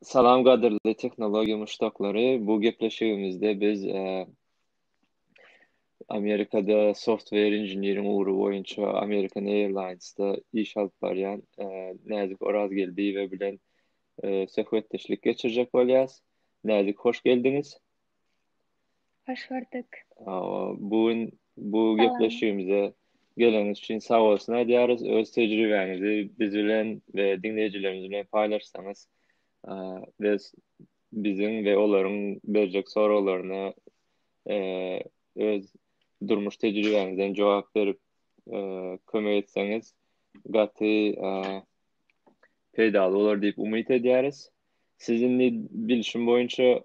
Salam gadyrly tehnologiýa muşdaklary. Bu gepleşigimizde biz e, Amerikada software engineering ugry boýunça American Airlines-da iş alyp barýan e, Näzik Orazgeldiýewa bilen e, söhbetdeşlik geçirjek bolýarys. Näzik, hoş geldiňiz. Hoş gördük. Bu gün bu gepleşigimize geleniňiz üçin sag bolsun aýdýarys. Öz tejribäňizi biz bilen we diňleýjilerimiz bilen paýlaşsaňyz we biziň we olaryň berjek soraglaryna e, öz durmuş tejribäňizden jogap berip e, kömek etseňiz gaty e, peýdaly bolar diýip umyt edýäris. Siziň bilşim boýunça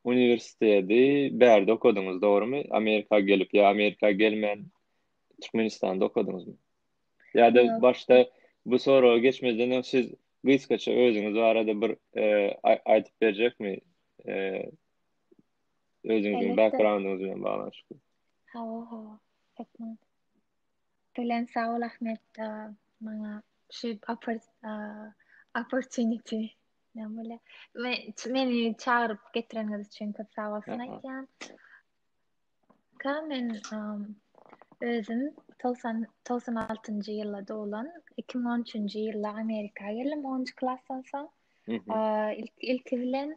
Uniwersiteti bärde okadyňyz, dogrumy? Amerika gelip ýa Amerika gelmän Türkmenistanda okadyňyzmy? Ýa-da başda bu soragy geçmezden öň siz gysgaça özüňiz barada bir aýdyp berjekmi? Özüňiziň backgroundyňyz bilen baglanyşykly. Hawa, hawa. Belent sag bol Ahmet maňa şu opportunity näme meni çagyryp getireniňiz üçin köp sag bolsun aýtýan. Ka men özüm 90 96-njy ýylda doglan, 2013-nji ýylda Amerika geldim 10-njy klasdan soň. Ilk ilki bilen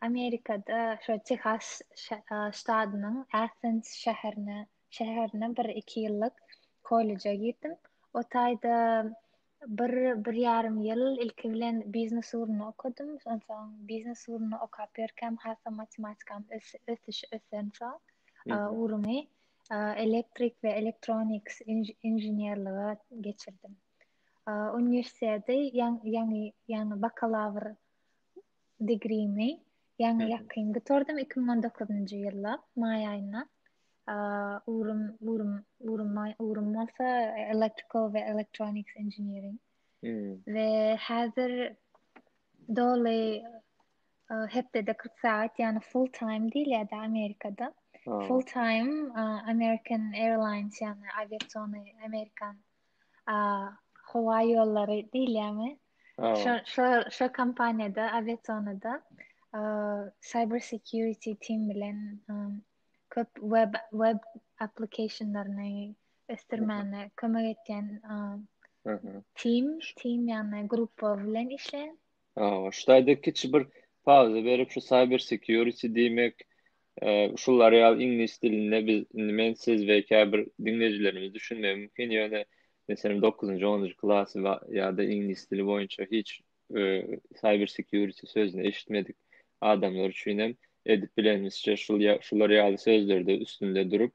Amerikada şu Texas ştadynyň Athens şäherine şäherine bir iki ýyllyk kolleja girdim. O taýda bir bir ýarym ýyl ilki bilen biznes ugrunda okadym. Onsoň biznes ugrunda okap ýörkäm hasa matematikam ösüş ösensoň ugrumy elektrik we elektroniks inženerlige geçirdim. Uniwersiteti ýaňy ýaňy bakalawr digrimi ýaňy ýakyn gutardym iki müň on dokuzynjy ýylda maý aýynda ugrym ugrym ugrym ugrym bolsa electrical we electronics engineering we häzir doly hepdede 40 sagat ýaly full time diýilýär da amerikada full time american airlines ýaly awiasion amerikan a, howa ýollary diýilýärmi? Şo, şo, şo kompaniýada, awiazonada cyber security team bilen köp web web applikationlaryny ösdürmäne kömek etýän team team ýagny gruppa bilen işleýän Hawa, şu taýda kiçi bir pauza berip, şu cyber security diýmek, şular ýaly iňlis dilinde biz, indi men, siz we käbir diňleýjilerimiz düşünmegi mümkin, ýöne, meselem, dokuzynjy, onunjy klas we, ýa-da iňlis dili boýunça hiç cyber security sözüni eşitmedik adamlar üçin hem edip bilenimizçe şul ýa, şular ýaly sözlerde üstünde durup,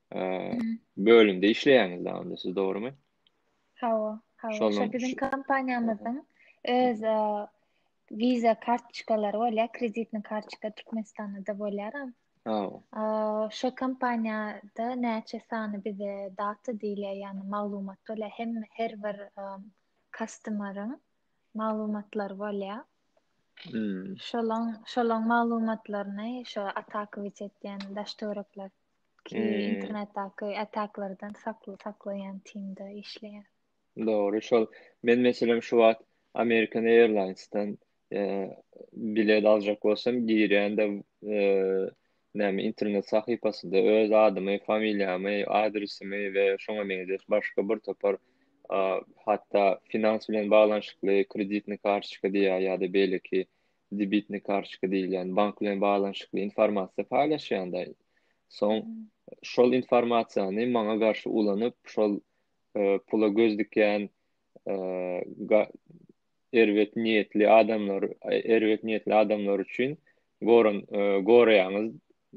bölümde işleýäňiz da onda siz dogrumy? Hawa, hawa. Şo biziň kompaniýamyzyň öz wiza kartoçkalary bolýar, kreditni kartoçka Türkmenistanda da bolýar. Hawa. Şo kompaniýada näçe sany bize data diýilýär, ýagny maglumat bolýar, hem her bir customer-yň maglumatlary bolýar. Şolaň, şolaň maglumatlaryny şo atakowiç etýän daş töwerekler ki ee. internetdaki ataklardan sakly saklaýan timde işleýär. Dogry, şol. Men meselem şu wagt American Airlines'dan eee bilet aljak bolsam, girýän-de eee näme internet sahypasynda öz adymy, familiýamy, adresimi we şoňa meňzeş başga bir topar eee hatda finans bilen baglanyşykly kreditny kartoçka diýýär ýa-da beýleki debitne kartoçka diýilýän bank bilen baglanyşykly informasiýa paýlaşýanda soň şol informasiýany maňa garşy ulanyp şol e, pula göz dikýän e, erbet niýetli adamlar erbet niýetli adamlar üçin goran e, goraýaňyz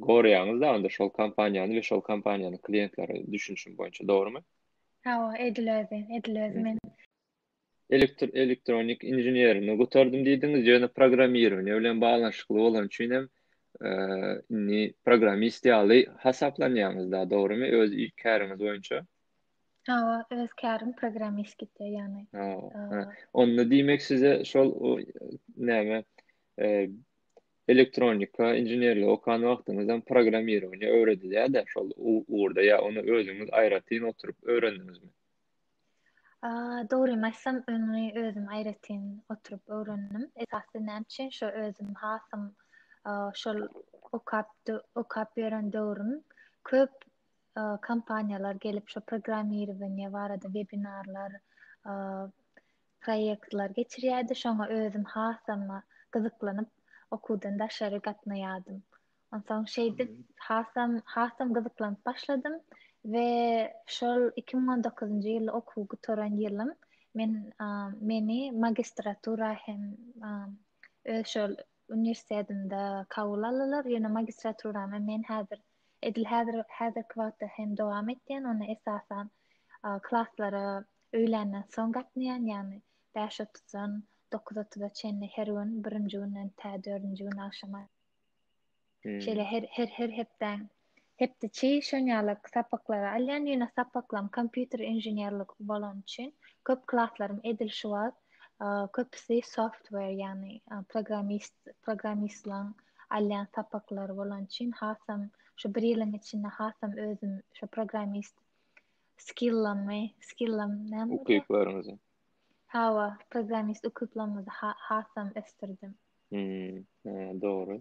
goraýaňyz da onda şol kompaniýany we şol kompaniýanyň klientleri düşünişim boýunça dogrumy? Hawa, edilerdi, edilerdi men. Elektronik inženerligini gutardym diýdiňiz, ýöne programmirowaniýe bilen baglanyşykly bolany üçin hem indi programmist ýaly hasaplanýaňyz da, dogrymy? Öz käriňiz boýunça. Hawa, öz kärim programmist gitýär ýagny. Hawa. Onda diýmek size şol näme elektronika inženerligi okan wagtyňyz hem programmirowaniýe öwredilýär-de şol ugurda ýa ony özüňiz aýratyn oturyp öwrendiňizmi? Dogrymy aýtsam, öňi özüm aýratyn oturyp öwrendim. Esasy näme üçin şo özüm hasam şol okap okap ýören döwrüm köp kompaniýalar gelip şo programmirowaniýe barada webinarlar, proýektler geçirýärdi. Şoňa özüm hasam gyzyklanyp okuwdan daşary gatnaýardym. Onsoň şeýdip hasam hasam gyzyklanyp başladym we şol iki müň on dokuzynjy ýyl okuw gutaran ýylym men meni magistratura hem öz şol uniwersitetimde kabul aldylar ýöne magistraturamy men häzir edil häzir häzirki wagtda hem dowam etýän ony esasan klaslara öýländen soň gatnaýan ýagny bäş otuzdan dokuz otuza çenli her gün birinji günden tä dördünji gün agşama Şeýle her her her hepde hepdeçi şonýalak sapaklary alýan, ýöne sapaklam kompýuter inženerlik bolan üçin köp klaslarym edil şu wagt köpüsi software, ýagny programmist, programmistlaň alýan sapaklary bolan üçin hasam şu bir ýylyň içinde hasam özüm şu programmist skillamy, skillam näme? Ukyplaryňyzy. Hawa, programmist ukyplarymy hasam ösdürdim. Hmm, dogry.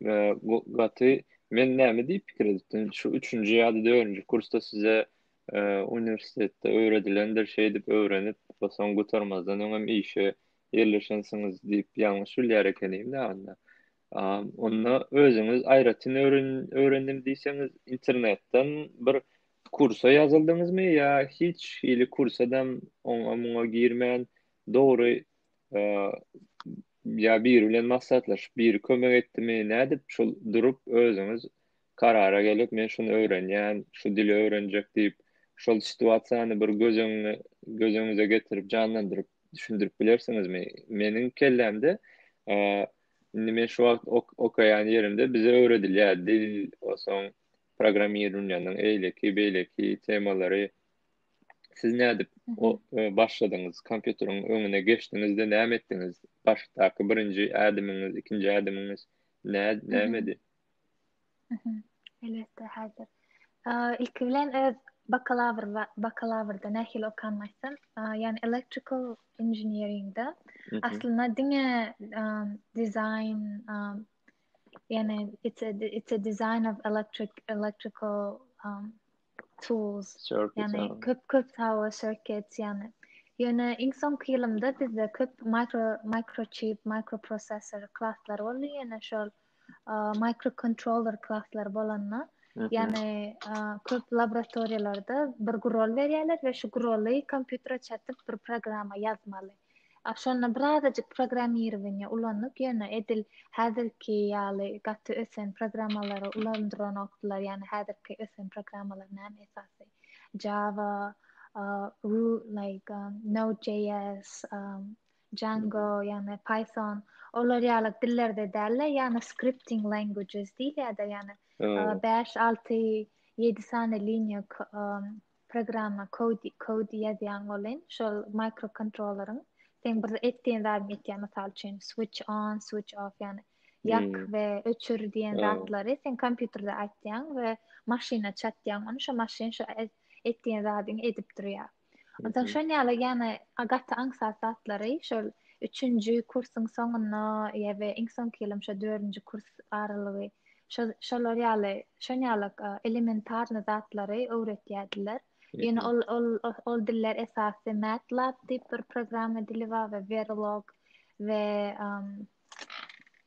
Gaty men näme diýip pikir edipdim? Şu üçünji ýa-da dördünji kursda size e, uniwersitetde öwredilendir şey diýip öwrenip, soň gutarmazdan öňem işe ýerleşensiňiz diýip ýalňyş bilýär ekenim de onda. Onda özüňiz aýratyn öwren öwrendim diýseňiz, internetden bir kursa ýazyldyňyzmy ýa hiç hili kursa da oňa muňa girmän dogry ýa biri bilen maslahatlaşyp, biri kömek etdimi, nädip şul durup özüňiz karara gelip, men şuny öwrenýän, şu dili öwrenjek diýip, şol situasiýany bir göz öňüne, göz öňüňize getirip, janlandyryp, düşündirip bilersiňizmi? Meniň kellämde, indi men şu wagt okaýan ýerimde bize öwredilýär, dil, o soň programmirowaniýanyň eýleki, beýleki temalary, Siz nädip başladyňyz? Kompýuteriň öňüne geçdiňizde näme etdiňiz? Başdaky birinji ädimiňiz, ikinji ädimiňiz nämedi? Elbetde, häzir. Ilki bilen öz bakalawr bakalawrda nähili okan başdan, ýagny electrical engineeringde aslynda diňe dizaýn ýagny it's a it's a design of electric electrical Tools. Ýani köp köp sawa circuits ýani. Ýöne iň soňky ýylymda bizde köp mikro mikrochip, mikroprosessor klaslar boldy ýöne şol mikrokontroller klaslar bolanda ýani köp laboratoriýalarda bir gurol berýärler we şu guroly kompýutere çatyp bir programma ýazmaly. A şonda birazajyk programmirowaniýe ulandyk, ýöne edil häzirki ýaly gaty ösen programmalary ulandyranokdylar, ýagny häzirki ösen programmalar näme esasy, Java, like Node.js, Django, ýagny Python, olar ýaly dillerde däldi, ýagny scripting languages diýilýärdi, ýagny bäş, alty, ýedi sany liniýa programma kode kode ýazýaň welin şol mikrokontrolleriň seň bir etdiýen zadyňy etýär mysal üçin switch on switch off ýagny ýak hmm. we öçür diýen zatlary sen kompýuterde aýtýaň we maşyna çatýaň ony şo maşyn şo e, etdiýen zadyňy edip durýar ondan mhm. şon ýaly ýagny gaty aňsat zatlary şol üçünji kursyň soňunda ýa we iň soňky ýylyň şo dördünji kurs aralygy Şol, şolar ýaly, şon ýaly elementarny zatlary öwretýärdiler. Ýöne ol, ol, ol diller esasy MATLAB diýip bir programma dili bar we Verilog we um,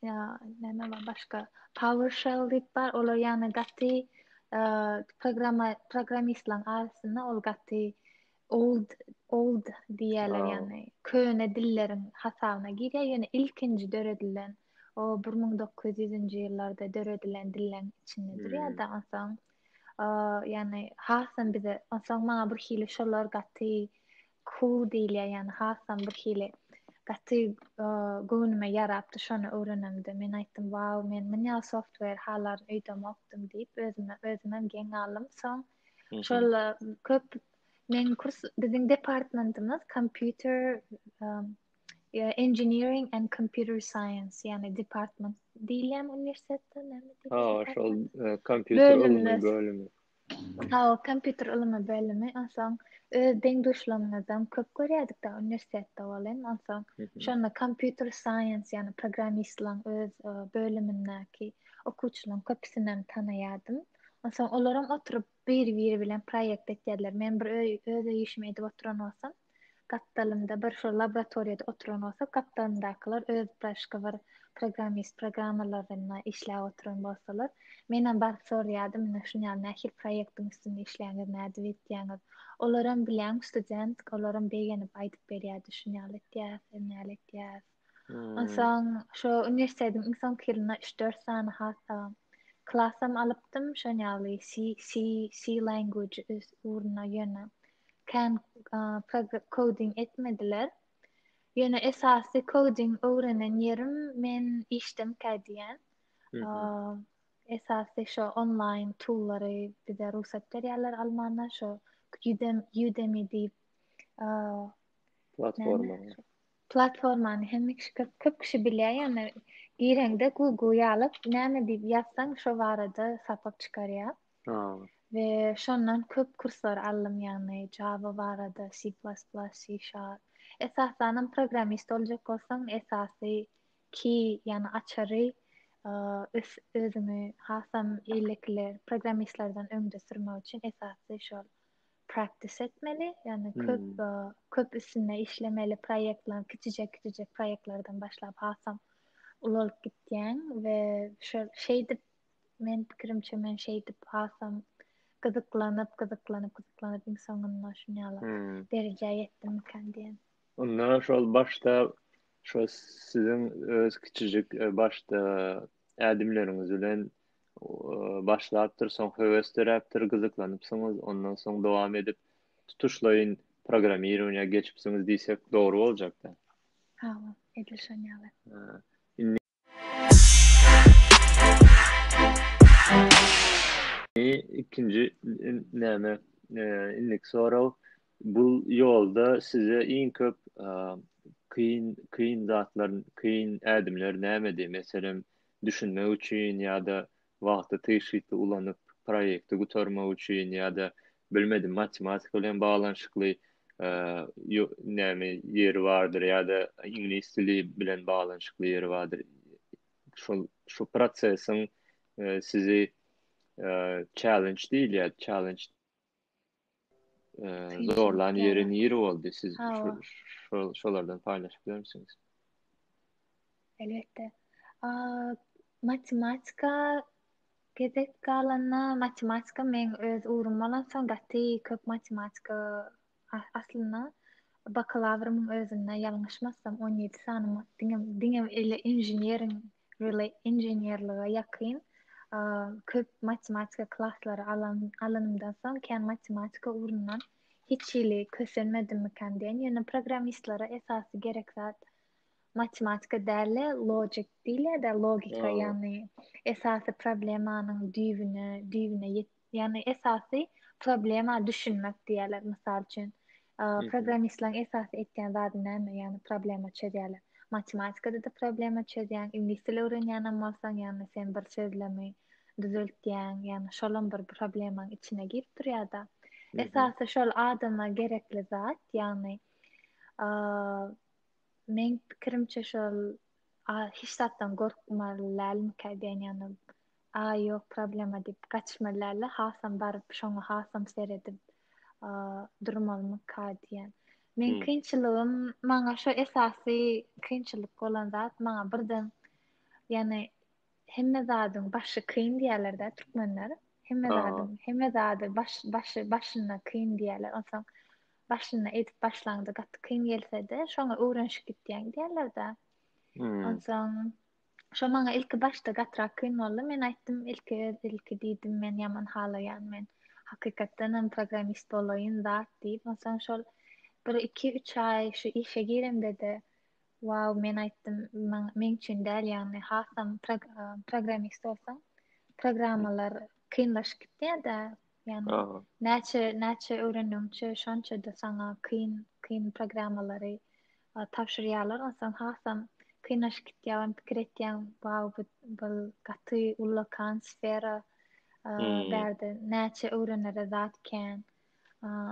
ýa, näme bar başga? PowerShell diýip bar. Olar ýagny gaty uh, programma programmistleriň arasynda ol gaty Old old diýýärler Aw. ýagny köne dilleriň hasabyna girýär ýöne ilkinji döredilen o bir müň dokuz ýüzünji ýyllarda döredilen dilleň içinde durýar Hmm. da onsoň a, ýagny hasam bize onsoň maňa bir hili şolar gaty cool diýilýär ýagny hasam bir hili gaty a, göwnüme ýarapdy şony öwrenemde men aýtdym wau men munýa software halarin öýdemokdym diýip özüme özümem geň galdym soň Şolla köp men kurs biziň departmentimiz kompýuter engineering and computer science yani department diýilýän uniwersitetde näme diýilýär? Ha, şol e, kompýuter ylmy bölümi. Ha, kompýuter ylmy bölümi. Onsoň öz deň-duşlarymyzdan köp görýärdik da uniwersitetde welin, onsoň şonda kompýuter science, ýani programmistlaryň öz e, bölümindäki okuwçylaryň köpüsini hem tanaýardym. Onsoň olaram oturyp bir-biri bilen proýekt etýärdiler. Men bir öý, öz öý işimi edip oturan bolsam, gapdalymda bir şol laboratoriýada oturan bolsa, gapdalymdakylar öz başga bir programmist programmalaryna işläp oturan bolsalar, menem baryp soraýardym, ine şuny ýaly nähili proýektiň üstünde işleýäňiz, nädip etýäňiz? Olaram bileň student, olaram begenip aýdyp berýärdi, şuny ýaly etýäs, näle etýäs. Onsoň şo uniwersitetiň iň soňky ýylynda üç-dört sany hata klasam alypdym, şoň ýaly C, C, C language üs ugruna ýöne kän koding etmediler. Ýöne esasy koding öwrenen ýerim men işdemkä diýen. Esasy şo onlaýn tullary bize rugsat berýärler almana şo Udemy diýip platforma. Platformany hemme kişi köp köp kişi bilýär ýöne gireňde Google ýalyp näme diýip ýazsaň şo barada sapak çykarýar. Aw. We şondan köp kurslar aldym ýagny Java barada, C++, C Sharp. Esasanam programmist boljak bolsaň esasy key ýagny açary ös özüňi hasam eýlekiler programmistlerden öňde sürmek üçin esasy şol. practice etmeli. Yani hmm. köp hmm. köp üstünde işlemeli proyektler, kiçijek kiçijek proyektlerden başlap hasam ulalyp gitýän ve şu şeydip men pikirimçe men şeydip hasam gyzyklanyp gyzyklanyp gyzyklanyp iň soňunda şuny alyp hmm. derejä ýetdim kan diýen. Onda şol başda şo siziň öz kiçijik e, başda ädimleriňiz bilen başlapdyr, soň höwes döräpdir, gyzyklanypsyňyz, ondan soň dowam edip tutuşlaýyn programmirowaniýa geçipsiňiz diýsek dogry boljakda. Hawa, edil şon ýaly. Indi ikinji näme, e, indiki sorag, Bu ýolda size iň köp kyn kyn zatlar kyn ädimler nämedi? Meselem, düşünmek üçin ýa-da wagty tygşytly ulanyp proýekti gutarmak üçin ýa-da bilmedim matematika bilen baglanyşykly näme ýeri bardyr ýa-da iňlis dili bilen baglanyşykly ýeri bardyr. Şol şu prosesiň sizi challenge diýilýär challenge. zorlan ýeri nir boldy siz şolardan paýlaşyp bilermisiňiz elbetde matematika gezek galanda matematika men öz ugrum bolan soň gaty köp matematika aslynda bakalawryň özünde ýalňyşmasam on ýedi sany diňe diňe ele inženeriň Relay inženerlige ýakyn köp matematika klaslary alan alanymdan soň kän matematika ugrundan hiç hili kösenmedimmikäm diýen ýöne programmistlere esasy gerek zat matematika däl-de lojik diýilýär-de logika ýagny esasy problemanyň düýbüne düýbüne ýet Ýagny esasy problema düşünmek diýýärler mysal üçin. Programmistleriň esasy etýän zady näme? Ýagny problema çözýärler. Matematikada-da problema çözýäň, iňlis dili öwrenýänem bolsaň, ýagny sen bir sözlemi düzeltýäň, ýagny şolam bir problemaň içine girip durýar-da. Esasy şol adama gerekli zat, ýagny meň pikirimçe şol hiç zatdan gorkmaly dälmikä diýen ýagny Aý ýok problema diýip gaçmalyala hasam baryp şoňa hasam seredip durmalymyka diýen. Men kynçylygym maňa şu esasy kynçylyk bolan zat maňa birden ýani hemme zadyň başy kyn diýerlerde türkmenler hemme zadyň hemme zady baş başy başyna kyn diýerler onsoň başyna edip başlaňda gaty kyn gelsede şoňa öwrenişip gitýäň diýerlerde onsoň Şo maňa ilki başda gatyrak kyn boldy. Men aýtdym, ilki öz ilki diýdim, men ýaman halaýan, men hakykatdanam programmist bolaýyn zat diýip. Onsoň şol bir iki üç aý şu işe giremde-de, wow, men aýtdym, meň üçin däl, ýagny hasam programmist bolsaň, programmalar kynlaşyp gitýär-de, ýagny näçe näçe öwrendigiňçe şonça-da saňa kyn kyn programmalary tabşyrýarlar onsoň hasam kynlaşyp gitýär ony pikir etýäň wau bu bul gaty ullakan sfera bärde näçe öwrenere zat kän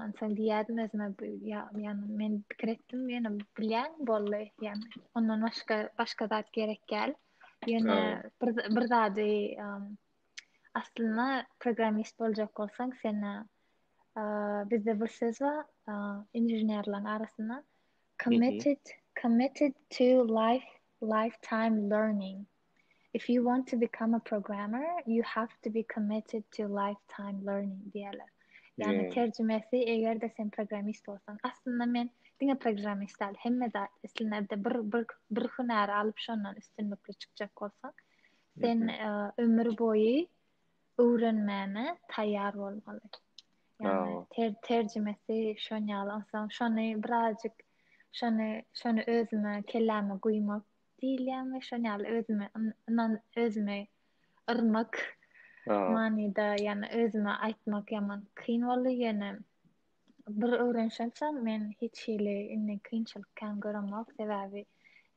onsoň diýýärdim özüme ýagny men pikir etdim ýöne bilýän boldy ýagny ondan başga başga zat gerek däl ýöne bir bir zady aslynda programmist boljak bolsaň seni bizde bir söz bar inženerleriň arasynda committed committed to life lifetime learning if you want to become a programmer you have to be committed to lifetime learning diýerler ýagny terjimesi eger de sen programmist bolsaň aslynda men diňe programmist däl hemme zat islenerde bir bir bir hünäri alyp şondan üstünlikli çykjak bolsaň sen ömür boýy öwrenmäne taýýar bolmaly. Ýagny ter terjimesi şon ýaly onsoň şony birazjyk şony şony özüme kelläme guýmak diýilýärmi şon ýaly özüme ynan özüme yrmak manyda ýagny özüme aýtmak ýaman kyn boldy ýöne bir öwrenişen soň men hiç hili indi kynçylyk kän göremok sebäbi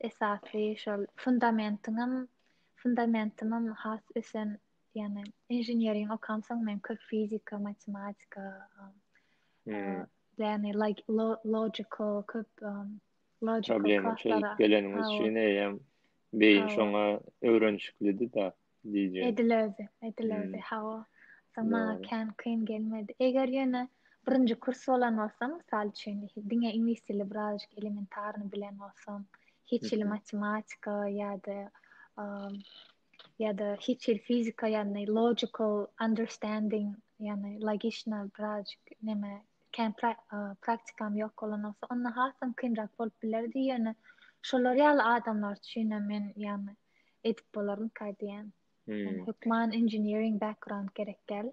esasy şol fundamentiňem fundamentimem has ösen Yani inženeriň okan soň men köp fizika, matematika, hmm. yani like lo logical köp um, logical Problemi çözüp geleniňiz üçin eýem beýin şoňa öwrenişiklidi da diýje. Edilerdi, edilerdi. Hmm. Hawa. Soňa kän kyn gelmedi. Eger ýöne birinji kurs bolan bolsam, mysal üçin, diňe iňlis dili birazjyk elementarny bilen bolsam, hiç hili matematika ýa-da um, ýa-da hiç hil fizika ýagny logical understanding ýagny logişna biraz näme kän praktikam ýok bolan bolsa onda hasam kynrak bolup bilerdi ýöne şolar ýaly adamlar üçin men ýagny edip bolarmyka diýýän hmm. hökman engineering background gerek däl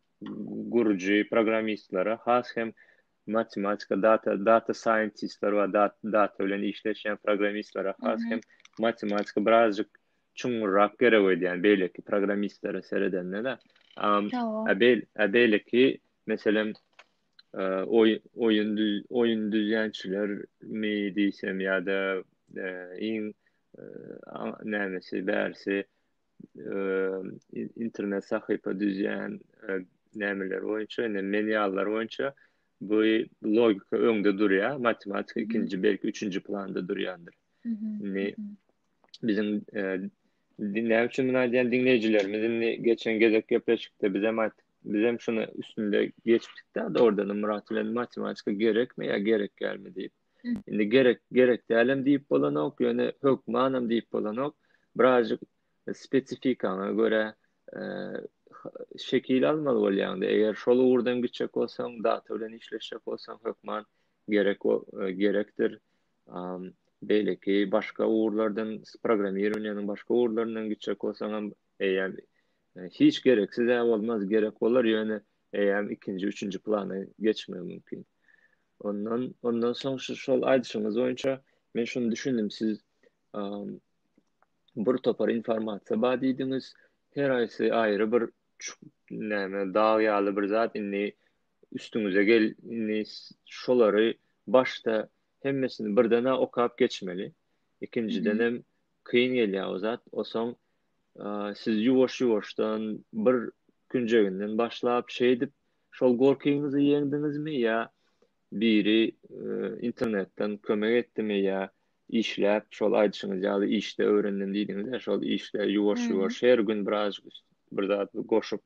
gürüji programmistlere has hem matematika data data scientistler we data bilen işleşýän programmistlere has hem matematika birazjyk çuňňurrak gerek edýän beýleki programmistlere seredende de a beýleki meselem oýun oýun düzýänçiler mi diýsem ýa-da iň nämesi bärsi internet sahypa düzýän nämeler boýunça, indi men ýalylar boýunça bu logika öňde durýar, matematika ikinji, belki üçünji planda durýandyr. Indi biziň näme üçin muny aýdýan diňleýjilerimiz indi geçen gezek gepleşikde biz hem aýtdyk, biz hem şuny üstünde geçdik-de, oradan Murat bilen matematika gerekmi ýa gerek dälmi diýip. Indi gerek, gerek dälem diýip bolanok, ýöne hökmanam diýip bolanok. Birazjyk spesifikaňa görä şekil almaly bolýaňda. Eger şol ugurdan gitjek bolsaň, data bilen işleşjek bolsaň, hökman gerek gerekdir. Beýleki başga ugurlardan, programmirowaniýanyň başga ugurlaryndan gitjek bolsaň hem eýýäm hiç gereksiz-ä bolmaz, gerek bolar, ýöne eýýäm ikinji, üçünji plana geçmegi mümkin. Ondan ondan soň şu şol aýdyşyňyz boýunça men şuny düşündim siz bir topar informasiýa bar diýdiňiz. Her aýsy aýry bir näme dag ýaly bir zat indi üstüňize gel indi şolary başda hemmesini birden okap geçmeli. Ikinjiden hem kyn gelýär o zat. Osoň siz ýuwaş-ýuwaşdan bir künjeginden başlap şeýdip Şol gorkyňyzy ýeňdiňizmi ýa biri internetden kömek etdimi ýa işläp şol aýdyşyňyz ýaly işde öwrendim diýdiňiz-ä şol işde ýuwaş ýuwaş her gün birazjyk bir zat goşup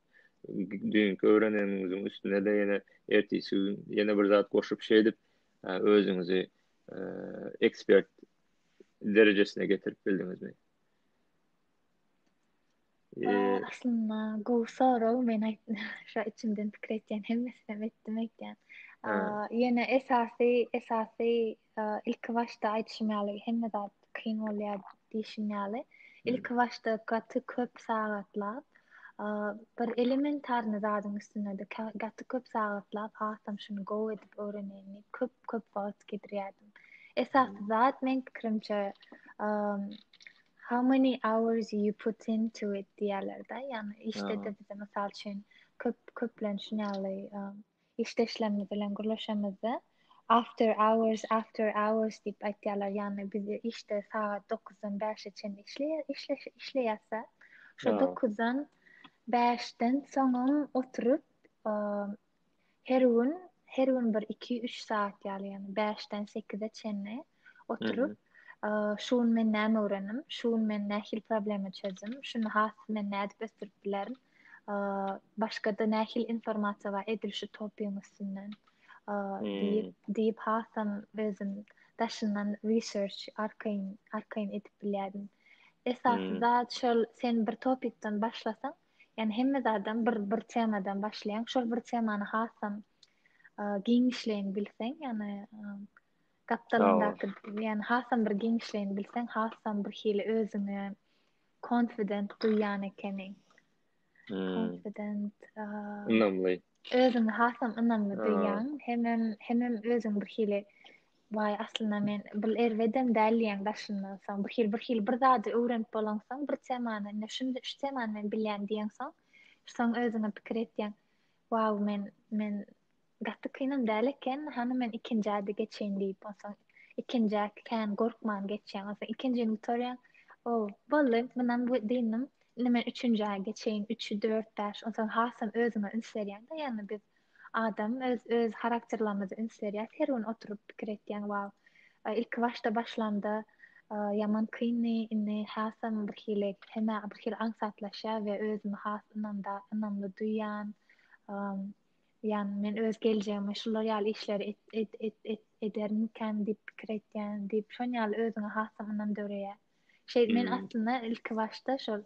düýnki öwreneniňiziň üstünede ýene ertisi gün ýene bir zat goşup şeýdip özüňizi ekspert derejesine getirip bildiňizmi? Aslynda gowy sorag. Men aýtdym, şo içimden pikir etýän hemmesinem etdim aýtýan. Ýöne esasy, esasy ilki başda aýdyşym ýaly hemme zat kyn bolýar diýşim ýaly. Ilki başda gaty köp sagatlap, bir elementarny zadyň üstünde-de gaty köp sagatlap, hasam şuny gowy edip öwreneýin diýip, köp-köp wagt gidirýärdim. Esasy zat meň pikirimçe, How many hours you put into it diýerlerde, ýagny işde-de bize mysal üçin köp köplenç şuny ýaly işde işlemimiz bilen gürleşemizde after hours after hours diýip aýtýarlar, ýagny biz işde sagat 9-dan 5-e çenli işleýär işleýärse, şo 9-dan 5-den soňam oturyp her gün her gün bir iki üç saat ýaly ýaly bäşden sekize çenli oturyp şu gün men näme öwrendim şu gün men nähili problema çözdüm şuny has men nädip ösdürip bilerin başgada nähili informasiýa bar edil şu topyň üstünden diýip diýip hasam özüm daşyndan research arkaýyn arkaýyn edip bilýärdim esasy zat şol sen bir topikden başlasaň Ýani hemme zadam bir bir temadan başlaýan, şol bir temany hasam giňişleýin bilseň, ýani gapdalyndaky, ýani hasam bir giňişleýin bilseň, hasam bir hili özüňe konfident duýýan ekeniň. Hmm. Konfident. Ynamly. Özüňe hasam ynamly duýýaň, hemem hemem özüň bir hili Waý, aslynda men bul erbedem däl diýýäň daşyndan soň. Bir hili bir hili bir zady öwrenip bolansoň, bir temany, ine şun şu temany men bilýän diýensoň, soň özüňe pikir etýäň, Waw, men men gaty kynam däl eken, hany men ikinjä-de geçeýin diýip, onsoň ikinjä kän gorkman geçýäň. Onsoň ikinjini gutarýaň, O, boldy, mundan bu dynnym, Indi men üçünji aýa geçeýin, üç, dört, bäş, onsoň hasam özüňe üns berýäň-de, ýagny biz adam öz öz harakterlerimize üns berýäs, her gün oturyp pikir etýäň, wau, ilki başda başlamda ýaman kyndy, indi hasam birhili hemä birhili aňsatlaşýar we özümi has ynamda ynamly duýýan, ýagny men öz geljegime şular ýaly işleri et et et et edermikäm diýip pikir etýän diýip, şoň ýaly özüňe hasam ynam döreýär. Şeýdip men aslynda ilki başda şol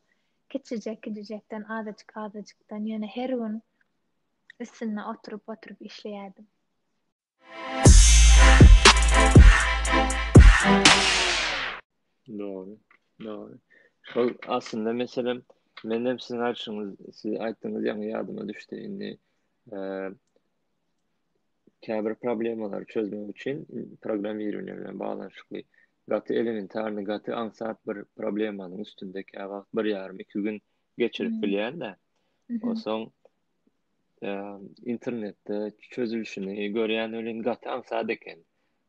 kiçijek-kiçijekden azajyk-azajykdan ýöne her gün üstünde oturyp-oturyp işleýärdim. Dogry, dogry. Şol aslynda meselem menem siziň aýdyşyňyz, siz aýtdyňyz ýaňy ýadyma düşdi. Indi käbir problemalary çözmek üçin programmirowaniýe bilen baglanyşykly gaty elementarny, gaty aňsat bir problemanyň üstünde käwagt bir ýarym, iki gün geçirip hmm. bilýän-de. Hmm. Onsoň e, internetde çözülişini görýän welin gaty aňsat eken.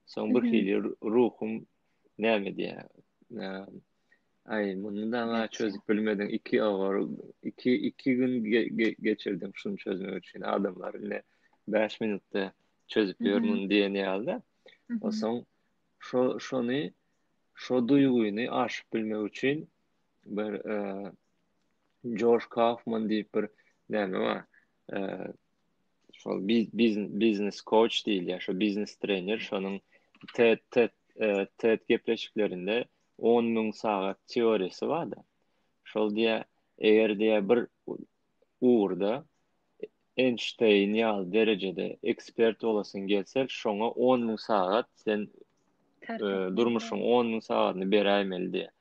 Soň bir hmm. hili ruhum näme diýýär? E, Aý, muny daňa çözüp bilmediň. Iki agar, iki, iki gün geçirdim şuny çözmek üçin. Adamlar indi bäş minutda çözüp ýör muny diýen ýaly-da. Onsoň şo şony şo duýgyny aşyp bilmek üçin bir e, Josh Kaufman diýip bir näme bar? E, şol biznes koç diýilýär, şo biznes trener, şonuň TED TED e, TED gepleşiklerinde on müň sagat teoriýasy barda. Şol diýýär, eger diýýär bir ugurda Enşteýn ýaly derejede ekspert bolasyň gelse, şoňa on müň sagat sen durmuşyň on müň sagatyny beräýmeli diýýär.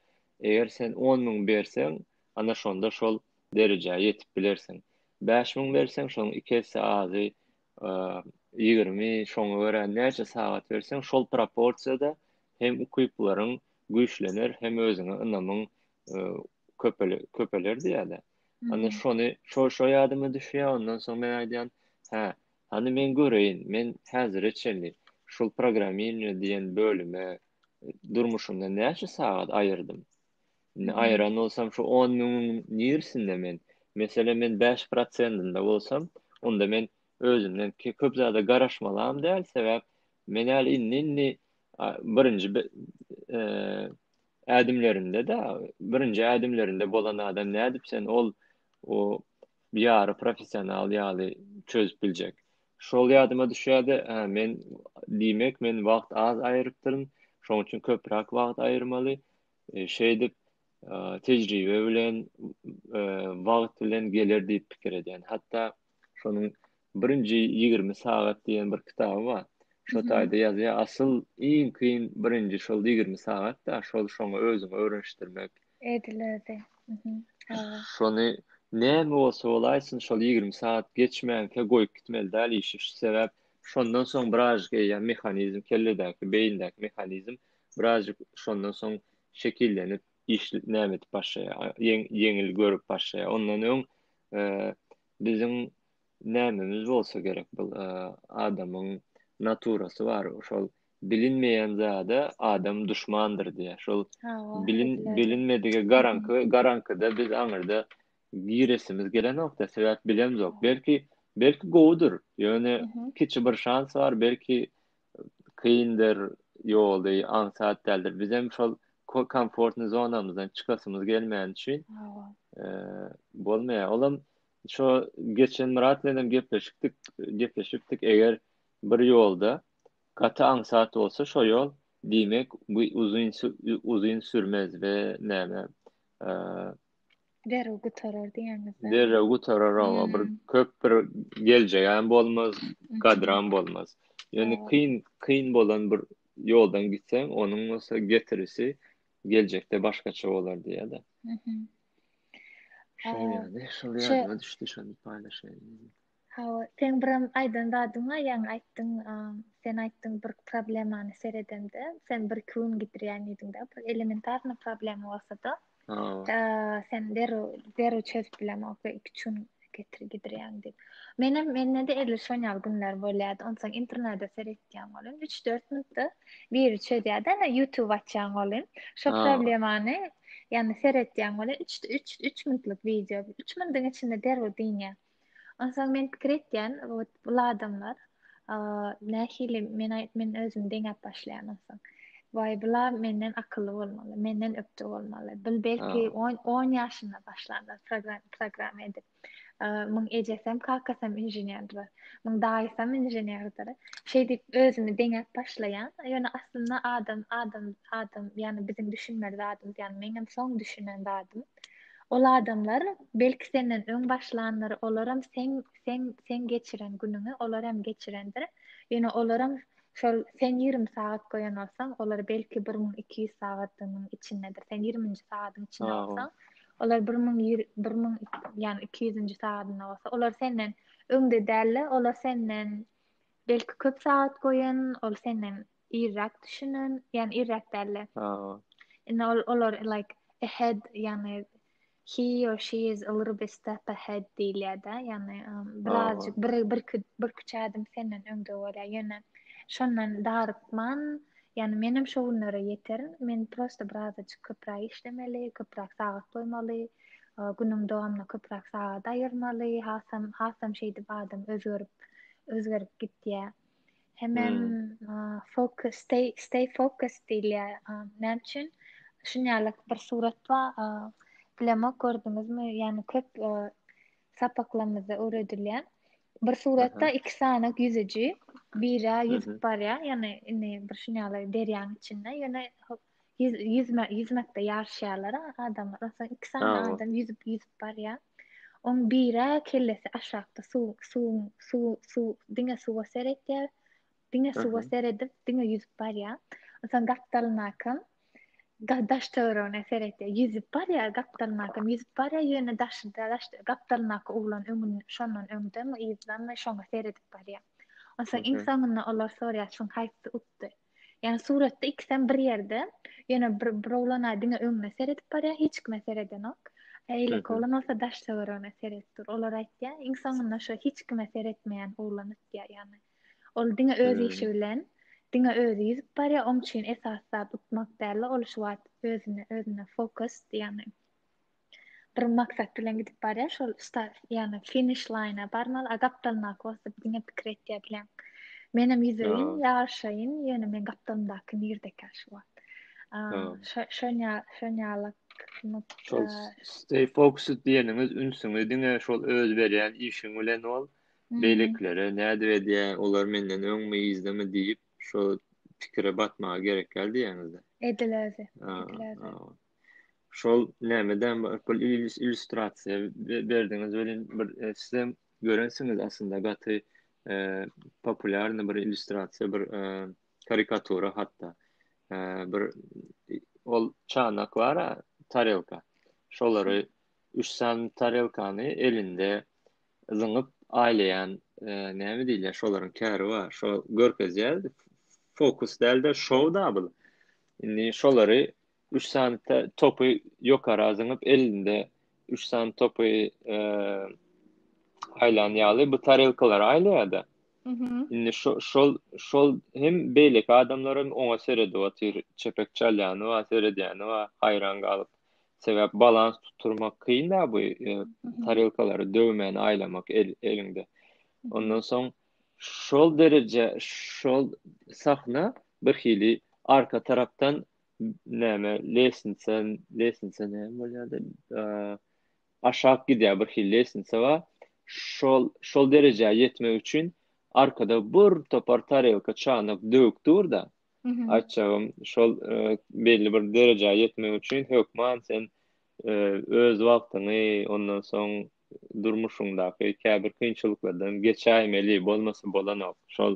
Eger sen on müň berseň, ana şonda şol derejä ýetip bilersiň. Bäş müň berseň, şonuň iki esse azy ýigrimi, şoňa görä näçe sagat berseň, şol proporsiýada hem ukyplaryň güýçlener, hem özüňe ynamyň köpeler diýýärler. Onda şony, şo, şo ýadyma düşýär, ondan soň men aýdýan, hä, hany men göreýin, men häzire çenli şul programmiranje diýen bölüme durmuşymdan näçe sagat aýyrdym? Indi aýyran bolsam şu on müňüň nirsinde men, meselem men bäş prosendinde bolsam, onda men özümden köp zada garaşmalam däl, sebäp men äl indi-indi birinji ädimlerinde-de, birinji ädimlerinde bolan adam nädip sen ol ýary professional ýaly çözüp biljek. Şol ýadyma düşýärdi, hä, men, diýmek, men wagt az aýyrypdyryn, şonuň üçin köpräk wagt aýyrmaly. Şeýdip, tejribe bilen, wagt bilen geler diýip pikir edýän. Hatda şonuň Birinji ýigrimi sagat diýen bir kitaby bar. Şo taýda ýazýar, asyl iň kyn birinji şol ýigrimi sagat-da, şol şoňa özüňi öwrenişdirmek, Edilerdi. Mhm. Hawa. Şony näme bolsa bolaýsyn, şol ýigrimi sagat geçmänkä goýup gitmeli däl işi. Şu sebäp şondan soň birazjyk eýýäm mehanizm, kelledäki, beýindäki mehanizm birazjyk şondan soň şekillenip, iş näme edip başlaýar, ýeň ýeňil görüp başlaýar. Ondan öň biziň nämemiz bolsa gerek, bu adamyň naturasy bar, şol bilinmeýän zada adam duşmandyr diýýär. Şol bilin bilinmedige garanky garankyda biz aňyrda giresimiz gelenokda sebäp bilemzok. Belki belki gowudyr. Ýöne kiçi bir şans bar, belki kyndyr, ýoly aňsat däldir. Biz hem şol komfortny zonamyzdan çykasymyz gelmän üçin bolmaýar. Olam şo geçen Myrat bilen hem gepleşikdik, gepleşipdik. Eger Bir ýolda, gaty aňsat bolsa şo ýol, diýmek, bu uzyn uzyn sürmez we näme, e, Derrew gutarar diýýäňizmi? Derrew gutarar, owa, bir köp bir geljegem bolmaz, gadram bolmaz. Ýöne kyn, kyn bolan bir ýoldan gitseň, onuň bolsa getirisi geljekde başgaça bolar diýýär-de. Şol ýaly, şol ýadyma düşdi, şony paýlaşaýyn. Hawa, seň birem aýdan zadyň bar, ýaňy aýtdyň, sen aýtdyň bir problemany seredemde, sen bir iki gün gidirýän diýdiňdä, bir elementarnyý problema bolsada, sen derrew, derrew çözüp bilemok we iki-üç gün getir gidirýäň diýip. Menem mende-de edil şon ýaly günler bolýardy. Onsoň internete seretýän bolun, üç-dört minutda biri çözýärdi. Ana YouTube açýan bolun, şo problemany ýany seretýän bolun, üç, üç, üç minutlyk wideo, üç minutiň içinde derrew dynýar. Onsoň men pikir etýän, wot bul adamlar nähili men men özümi deňäp başlaýan onsoň. Waý bula menden akylly bolmaly, menden ökde bolmaly. Bil belki 10 10 ýaşynda başlandy program program edip. Muň ejesem, kakasam inženerdir. Muň daýysam inženerdir. Şeýdip özümi deňäp başlaýan. Ýöne aslynda adam adam adam ýani biziň düşünmeli zadymyz ýani meňem soň düşünen zadym. Ol adamlar, belki, senden öň başlandyr, olaram seň, seň, seň geçiren günüňi olar hem geçirendir, ýöne olaram şol, sen ýigrimi sagat goýan bolsaň, olar, belki, bir müň iki ýüz sagadynyň içindedir, sen ýigriminji sagadyň içinde bolsaň, olar bir müň, bir müň, ýagny iki ýüzünji sagadynda bolsa, olar senden öňde däldi, olar senden, belki, köp sagat goýan, ol senden irräk düşünen, ýani irräk dälde. Indi ol olar like ahead, ýani he or she is a little bit step ahead diýilýärde, ýani birazjyk bir bir bir küçe adım senden öňde bolýar. Ýöne şondan darykman, ýani men hem şo günlere ýeterin. Men prosta birazjyk köpräk işlemeli, köpräk sagat goýmaly, günüň dowamyna köpräk sagat aýyrmaly. Hasam hasam şeýdip adam özgerip özgerip gitýär. Hemem hmm. focus, stay, stay focus diýilýä. Näme üçin? Şun ýaly bir surat bar. Bilemok gördüňizmi? Ýani köp sapaklarymyzda öwredilýän. Bir suratda iki sany ýüzüji, biri ýüzüp barýar, ýani indi bir şun ýaly derýaň içinde, ýöne Ýüz, ýüzme, ýüzmekde ýaryşýarlar adamlar. Onsoň iki sany Awa. adam ýüzüp, ýüzüp barýar. Oň biri kellesi aşakda suw, suwuň, suw, suw, diňe suwa seretýär. Diňe suwa Aha. seredip, diňe ýüzüp barýar. Onsoň gapdalynakam da- daş töweregine seretýär. Ýüzüp barýar, gapdalynakam ýüzüp barýar, ýöne daşy da- daş, gapdalyndaky oglan öňün, şondan öňdemi, yzdanmy, şoňa seredip barýar. Onsoň iň Aha. soňunda olar sorýar, şuň haýsy utdy? Ýani suratda ikisem bir ýerde. Ýöne bir bir oglan diňe öňüne seredip barýar, hiç kime seredenok. Eýleki oglan bolsa daş töweregine seredip dur. Olar aýtýar, iň soňunda şo hiç kime seretmeýän oglan utýar. Ýani ol diňe öz işi bilen, diňe özi ýüzüp barýar. Oň üçin esasy zat utmak däl-de, ol şu wagt özüne, özüne fokus, ýani. bir maksat bilen gidip barýar şol start ýagny finiş laýna barmaly a gapdalyna kosyp diňe pikir etýär bilen menem ýüzeýin ýaryşaýyn ýöne men gapdalymdaky nirdeka şu wagt şonya şonýaly stay fokus diýeniňiz ünsüňi diňe şol öz berýän işiň bilen ol beýlekilere nädip edýär olar menden öňmi yzdamy diýip şo pikire batmaga gerek ýaly diýýäňizde edil özi Şol näme däm ol illýustrasiýa berdiňiz welin bir sizem görensiňiz aslynda gaty populýarny bir illýustrasiýa bir karikatura hatda bir ol çanak bar-a tarelka şolary üç sany tarelkany elinde zyňyp aýlaýan näme diýilýär şolaryň käri bar şo görkezýär fokus däl-de şou-da bu indi şolary üç sany topy ýokara zyňyp elinde üç sany topy e, aýlan ýaly bu tarelkalar aýlaýarda indi şol şol hem beýleki adamlar hem oňa seredip otyr çepek çalýany bar seredýäni bar haýran galyp sebäp balans tutturmak kyn da bu e, tarelkalary döwmän aýlamak el, eliňde ondan soň şol dereje şol sahna bir hili arka tarapdan näme lestnitsa lestnitsa näme bolýardy aşak gidýär bir hil lestnitsa bar şol şol derejä ýetmek üçin arkada bir topar tarelka çanak döwük dur da aýtjagym şol e, belli bir derejä ýetmek üçin hökman sen e, öz wagtyňy ondan soň durmuşyňdaky käbir kynçylyklardan geçäýmeli bolmasa bolanok şol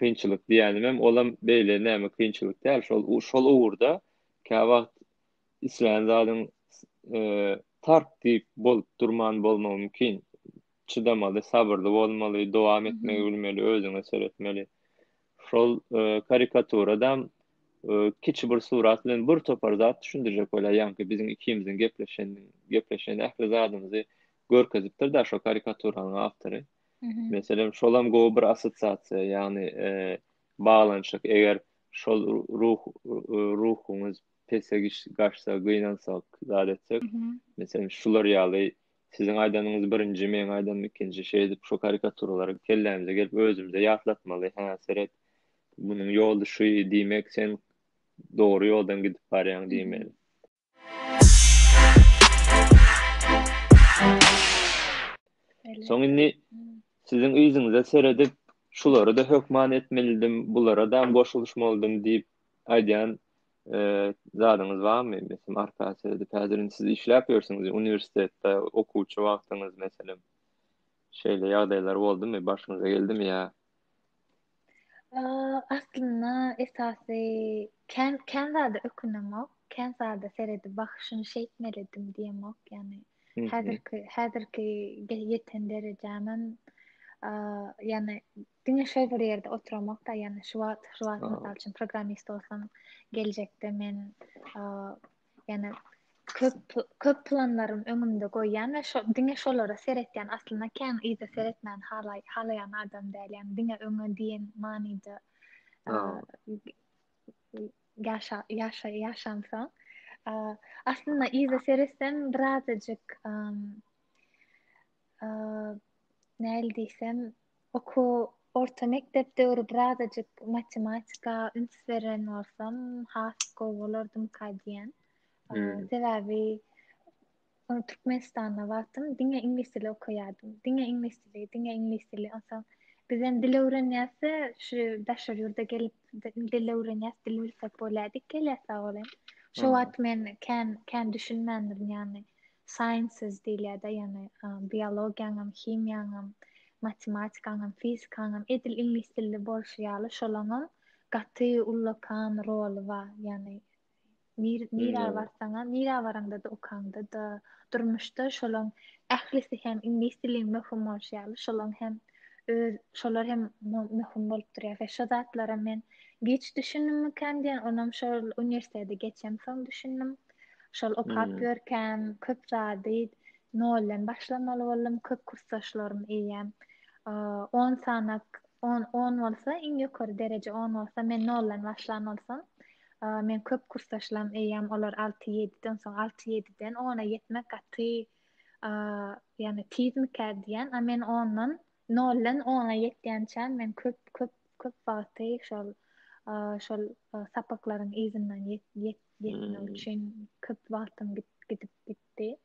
kynçylyk diýenimem olam beýle näme kynçylyk däl şol şol ugurda käwagt islän zadyň tark diýip bolup durman bolmagy mümkin çydamaly sabyrly bolmaly dowam etmegi bilmeli özüňe seretmeli şol karikaturadam kiçi bir surat bilen bir topar zat düşündirjek bolýar ýaňky biziň ikimiziň gepleşen gepleşen ähli zadymyzy görkezipdir da şo karikaturanyň awtory. Meselem, şolam gowy bir assosiasiýa, ýagny baglanyşyk. Eger şol ruh ruhuňyz pese gaçsa, gynansak, zat etsek, meselem, şular ýaly siziň aýdanyňyz birinji, meň aýdanym ikinji, şeýdip şu karikaturalary kellämize gelip özümize ýatlatmaly, hä, seret, munuň ýoly şu diýmek, sen dogry ýoldan gidip barýaň diýmeli. Soň indi siziň yzyňyza seredip, şulary-da hökman etmelidim, bulara-da goşulyşmalydym diýip aýdýan zadyňyz barmy? Meselem, arka seredip, häzir indi siz işläp ýörsüňiz, uniwersitetde okuwçy wagtyňyz, meselem, şeýle ýagdaýlar boldumy, başyňyza geldimi ýa Aslynda esasy kän kän zada ökünemok, kän zada seredip wah şuny şeýtmelidim diýemok. Ýani häzirki häzirki ýeten derejämem ýani diňe şol bir ýerde oturamok da ýani şu wagt şu wagt mysal üçin programmist bolsam geljekde men Ýani köp köp planlarym öňümde goýýan we şo diňe şolara seretýän aslynda kän yza seretmän halaý halaýan adam däl ýani diňe öňe diýen manyda ýaşa ýaşa ýaşamsa aslynda yza seretsem birazajyk näl diýsem Okuw, orta mekdep döwri birazajyk matematika üns beren bolsam, has gowy bolardymyka diýýän. Hmm. Sebäbi ony Türkmenistanda wagtym diňe iňlis dili okaýardym. Diňe iňlis dili, diňe iňlis dili. Onsoň biz hem dil öwrenýäs-de, şu daşary ýurda gelip dil öwrenýäs, dil bilsek bolýa diýip gelýäs sag bol hem. Şo wagt men kän kän düşünmändirin ýagny. Sciences diýilýär-de, ýagny biologiýaňam, himiýaňam, matematikaňam, fizikaňam, edil iňlis dilli bolşy ýaly, şolaňam gaty ullakan roly bar. Ýagny nir nirä barsaňam, nirä baraňda-da, okaňda-da, durmuşda şolaň ählisi hem iňlis diliň möhüm bolşy ýaly, şolaň hem öz şolar hem möhüm bolup durýar we şo zatlara men giç düşündimmikäm diýen, onam şol uniwersiteti geçemsoň düşündim. Şol okap hmm. ýörkäm köp zady noldan başlamaly boldum, köp kursdaşlarym eýýäm 10 sanak 10 10 bolsa iň ýokary dereje 10 bolsa men noldan başlan bolsam men köp kursdaşlarym eýýäm olar 6-7-den soň 6-7-den 10-a ýetmek gaty ýani tizmika diýen, a men ondan noldan 10-a ýetýänçä men köp köp köp wagty şol şol sapaklaryň yzyndan ýet Gitmek hmm. üçin köp wagtym gidip gitdi.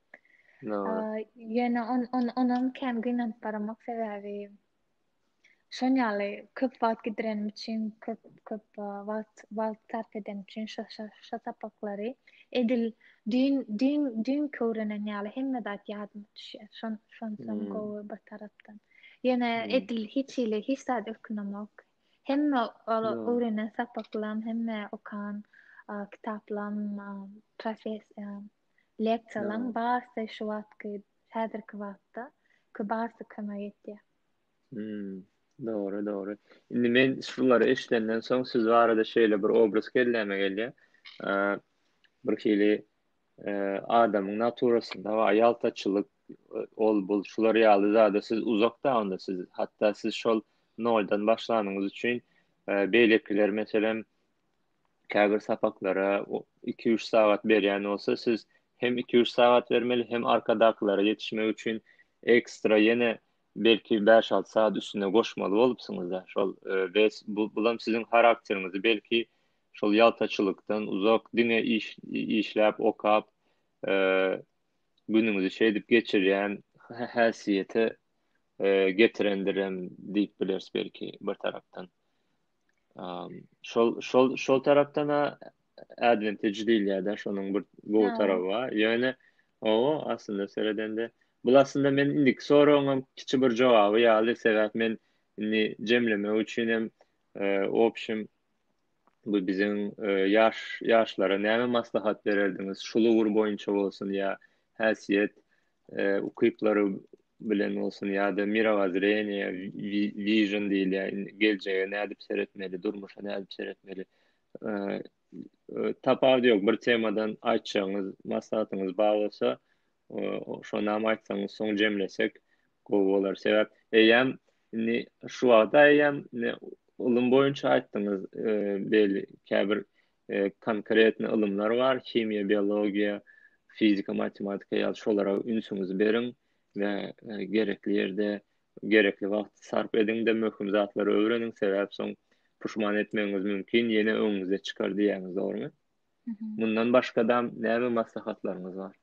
Ýöne on on onam kän gynanyp baramak sebäbi şon ýaly köp wagt gidirenim üçin köp köp wagt wagt sarp edenim üçin şo şo şo sapaklary edil düýn düýn düýn köwrenen ýaly hemme zat ýadyma düşýär. Şon şon hmm. gowy bir tarapdan. Ýöne hmm. edil hiç hili hiç zat ökünemok. Hemme ol öwrenen sapaklam, hemme okan kitaplam, professiýam, leksiýalam barysy şu wagtky, häzirki wagtda barysy kömek etýär. Hmm. Dogry, dogry. Indi men şulary eşidenden soň siz barada şeýle bir obraz kelläme gelýär. Eee, birhili eee, adamyň naturasynda bar, ýaltaçylyk, ol bul şular ýaly zada siz uzakda onda siz hatda siz şol noldan başlanyňyz üçin e, beýlekiler meselem käbir sapaklara 2-3 sagat berýän bolsa siz hem 2-3 sagat bermeli hem arkadakylara ýetişmek üçin ekstra ýene belki 5-6 saat üstüne goşmaly bolupsyňyz da şol e, we bu bulam siziň harakteriňizi belki şol ýaltaçylykdan uzak diňe iş işläp okap e, günüňizi şeýdip geçirýän häsiýete getirendirem diýip bileris belki bir tarapdan. Şol şol şol tarapdan advantage diýilýär-de, şonuň bir gowy taraby bar. Ýöne o aslynda seredende, bu aslynda men indi soragyňam kiçi bir jogaby ýaly, sebäp men indi jemlemek üçin hem, obşim, bu biziň ýaş ýaşlara näme maslahat bererdiňiz şul ugur boýunça bolsun ýa häsiýet ukyplary bilen bolsun ýa-da mirawazreniýe vision diýilýär geljege nädip seretmeli durmuşa nädip seretmeli tapawudy ýok bir temadan aýtjagyňyz maslahatyňyz bar bolsa şonam aýtsaňyz soň jemlesek Gowy bolar sebäp eýýäm indi şu wagta eýýäm indi ylym boýunça aýtdyňyz beýle käbir konkretny ylymlar bar himiýa biologiýa fizika matematika ýaly şolara ünsüňizi beriň we gerekli ýerde gerekli wagty sarp ediňde möhüm zatlary öwreniň sebäp soň puşman etmegiňiz mümkin ýene öňüňize çykar diýýäňiz dogrymy mundan başgadam näme maslahatlaryňyz bar.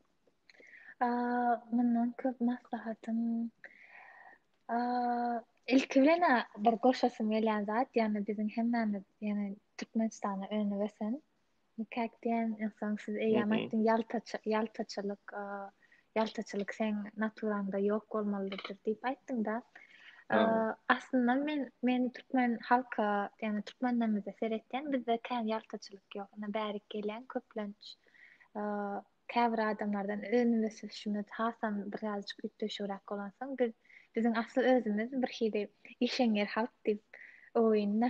Mundan köp maslahatym ilki bilen bir goşasym gelýän zat, ýagny biziň hemmämiz, ýagny Türkmenistana öňe ösen. Nikak diýen insan siz eýýäm aýtdyň, ýaltaçy, ýaltaçylyk, ýaltaçylyk sen naturaňda ýok bolmalydyr diýip aýtdyňda. Aslynda men men türkmen halka, ýagny türkmenlerimize seretýän, bizde kän ýaltaçylyk ýok. Ýa bärik gelýän köplenç Käbir adamlardan özümiz we sürüşimiz hasam birazajyk üýtgeşigräk bolansoň, biz biziň asly özümiz bir hili işeňňir halk diýip oýunda.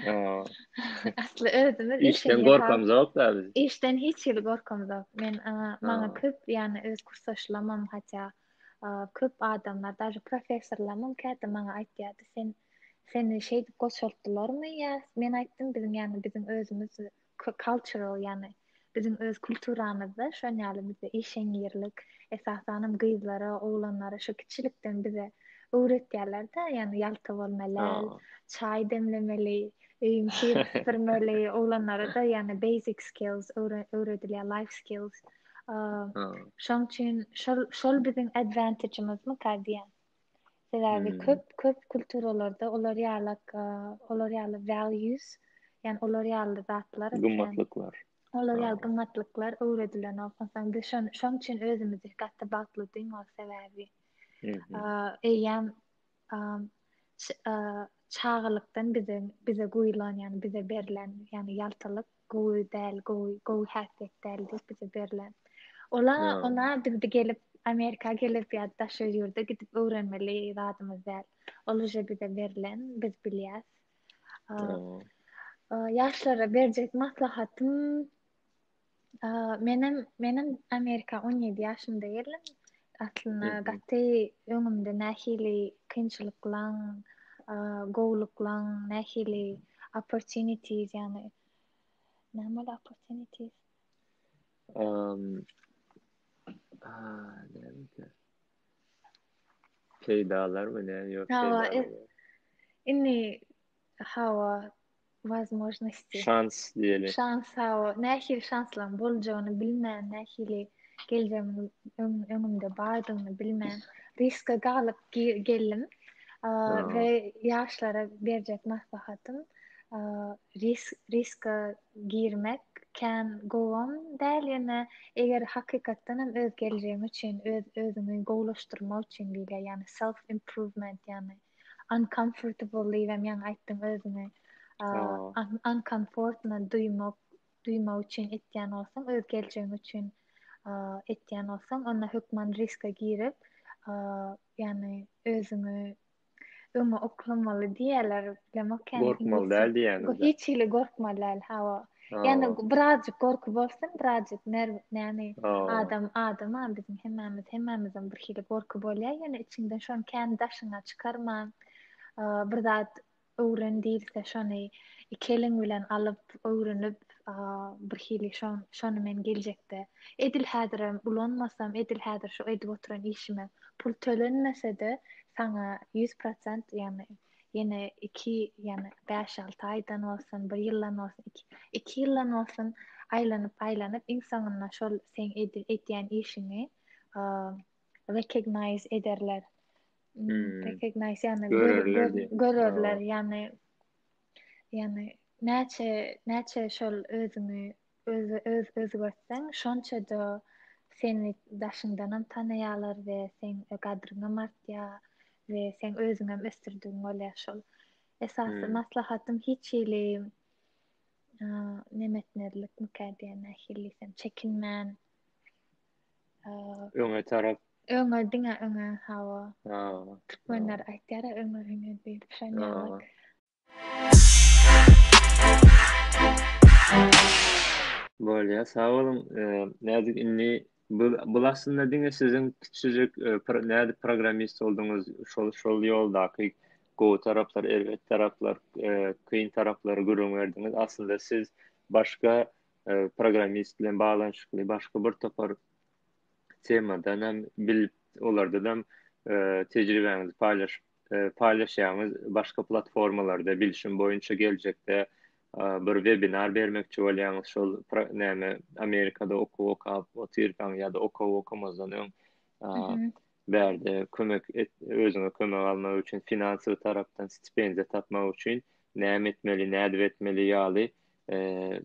Asly özümiz işden gorkamyz ýok da biz. Işden hiç hili gorkamyz ýok. Men maňa köp ýany öz kursdaşlamam hatda köp adamlar daža professorlamam käte maňa aýtýardy sen seni şeýdip goşaltdylarmy ýa men aýtdym biziň ýany biziň özümiz Cultural ýagny biziň öz kulturamyzda şon ýaly bizde işeňňirlik esasanam gyzlara oglanlara şo kiçilikden bize öwretýärlerde ýagny ýalta bolmalyl çaý demlemeli öýüň kirini süpürmeli oglanlarada ýagny basic skills öwredilýär life skills şoň üçin şol şol biziň advantagemizmi ka diýýän. Sebäbi köp köp kulturalarda olar ýaly olar ýaly values, ýani olar ýaly zatlar, gymmatlyklar. Olar ýaly gymmatlyklar öwredilen bolsa, biz şon şoň üçin özümizi gaty bagtly duýmak sebäbi. Eýýäm çagalykdan bize bize guýlan, ýani bize berlen, ýani ýaltalyk gowy däl, gowy, gowy häsiýet däl diýip bize berlen. Ola, ona biz gelip, Amerika gelip ýa daşary ýurda gidip öwrenmeli zadymyz däl. Ol uje bize berlen, biz bilýäs. Ýaşlara berjek maslahatym menem, menem Amerika 17 ýaşymda geldim. Aslynda gaty öňümde nähili kynçylyklaň, gowulyklaň, nähili opportunities, ýagny näme ol opportunities? Um, peýdalar we näme ýok peýdalar. Indi Hawa, wazmožnosti. Şans diýeli. Şans, hawa. Nähili şanslaryň boljagyny bilmän, nähili geljegiň öňümde bardygyny bilmän, riska galyp geldim. We ýaşlara berjek maslahatym, riska girmek kän gowam däl, ýöne eger hakykatdan hem öz geljegiň üçin, öz-özüňi gowulaşdyrmak üçin diýilýär, ýagny self-improvement, ýagny uncomfortable diýibem ýaňy aýtdyň özüňe. Uncomfortna duýmak, duýmak üçin etýän bolsaň, öz geljegiň üçin etýän bolsaň, onda hökman riske girip, ýagny özüňi öňe oklamaly diýýärler, bilemok. Gorkmaly däl diýýäňiz. Hiç hili gorkmaly däl, hawa. Ýani birazjyk gorky bolsun, birazjyk nerw, näme, adam, adam, biziň hemmämiz, hemmämizden bir hili gorky bolýar, ýöne içiňden şony kän daşyňa çykarman, bir zat öwren diýilse, şony iki eliň bilen alyp, öwrenip, bir hili şon, şony men geljekde, edil häzirem ulanmasam, edil häzir şu edip oturan işime pul tölenmese-de, saňa ýüz prosent, ýani ýene iki ýene bäş-alty aýdan bolsun, bir ýyldan bolsun, iki, iki ýyldan bolsun aýlanyp-aýlanyp iň soňunda şol seň edýän işiňi recognize ederler. Hmm. Recognize ýagny görerler, görerler ýagny ýagny näçe näçe şol özüňi Özi öz özgertseň şonçada seni daşyňdanam tanaýarlar we seň gadryňam artýar we seň özüňem ösdürdigiň bolýar şol. Esasy Hmm. maslahatym hiç hili a, neme etmezlik mikä diýen nähili diýsem çekinmän a, Öňe tarap. öňe diňe öňe hawa. Ha. Türkmenler aýtýar-a öňe öňe diýip şoň ýaly. Ha. Bolýar, sag boluň. Nädip indi bu bu aslynda diňe siziň kiçijik nädip programmist bolduňyz, şol şol ýoldaky gowy taraplar, erbet taraplar, kyn taraplary gürrüň berdiňiz. Aslynda siz başga programmist bilen baglanyşykly başga bir topar temadan hem bilip, olardan hem tejribäňizi paýlaşyp paýlaşýaňyz, başga platformalarda bilşim boýunça geljekde bir webinar bermekçi bolýaňyz şol näme Amerikada okuw okap otyrkaň ýa-da okuw okamazdan öň bärde kömek et, özüňe kömek almak üçin finansiýa tarapdan stipendiýa tapmak üçin näme etmeli, nädip etmeli ýaly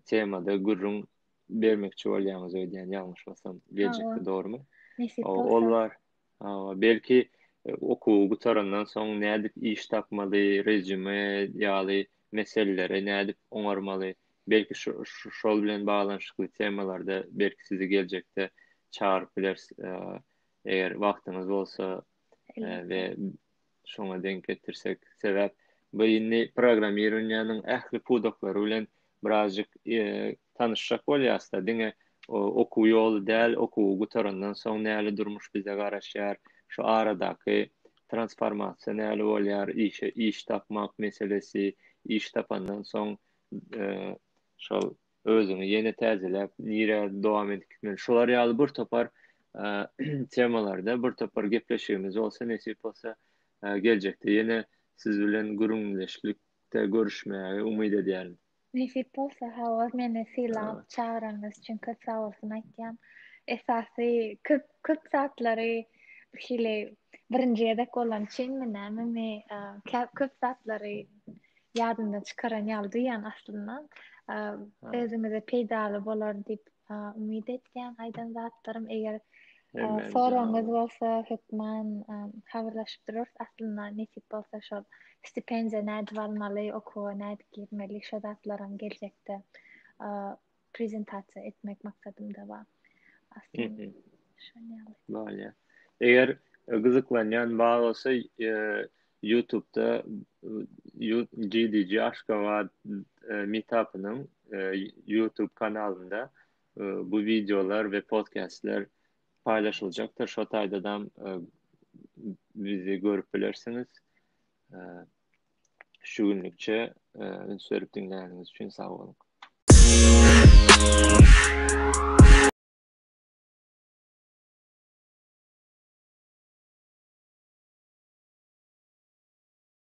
temada gürrüň bermekçi bolýaňyz öýdýän ýalňyşmasam geljekde dogrumy? Ollar Hawa, belki okuwy gutarandan soň nädip iş tapmaly, rezüme ýaly meselelere nädip oňarmaly, belki şol bilen baglanyşykly temalarda belki sizi geljekde çagyryp bileris, eger wagtyňyz bolsa we şoňa denk getirsek, sebäp bu indi programmirowaniýanyň ähli pudaklary bilen birazjyk tanyşjak bolýasda, diňe okuw ýoly däl, okuwy gutarandan soň näle durmuş bize garaşýar, şu aradaky transformasiýa näle bolýar, işe iş tapmak meselesi, iş tapandan soň şol özüňi ýene täzeläp nirä dowam edip gitmeli şular ýaly bir topar temalarda bir topar gepleşigimiz bolsa nesip bolsa geljekde ýene siz bilen gürrüňdeşlikde görüşmäge umyt edýärin. Nesip bolsa hawa meni sylap çagyranyňyz üçin köp sagbolsun aýtýan. Esasy köp köp zatlary şeýle birinji gezek bolany üçinmi näme mi köp zatlary ýadyndan çykaran ýaly duýýan aslynda. Özüňize peýdaly bolar diýip umyt etýän aýdan zatlarym eger soragyňyz bolsa hökman habarlaşyp durarys aslynda nesip bolsa şol stipendiýa nädip almaly okuwa nädip girmeli şo zatlaram geljekde prezentasiýa etmek maksadymda bar. Aslynda şonda. Bolýar. Eger e, gyzyklanýan bar bolsa, e, YouTube-da e, GDG Aşgabat meetup-ynyň YouTube kanalynda bu wideolar we podkastlar paýlaşyljakdyr. Şo taýdadam bizi görüp bilersiňiz. Şu günlükçe üns berip diňläniňiz üçin sag boluň.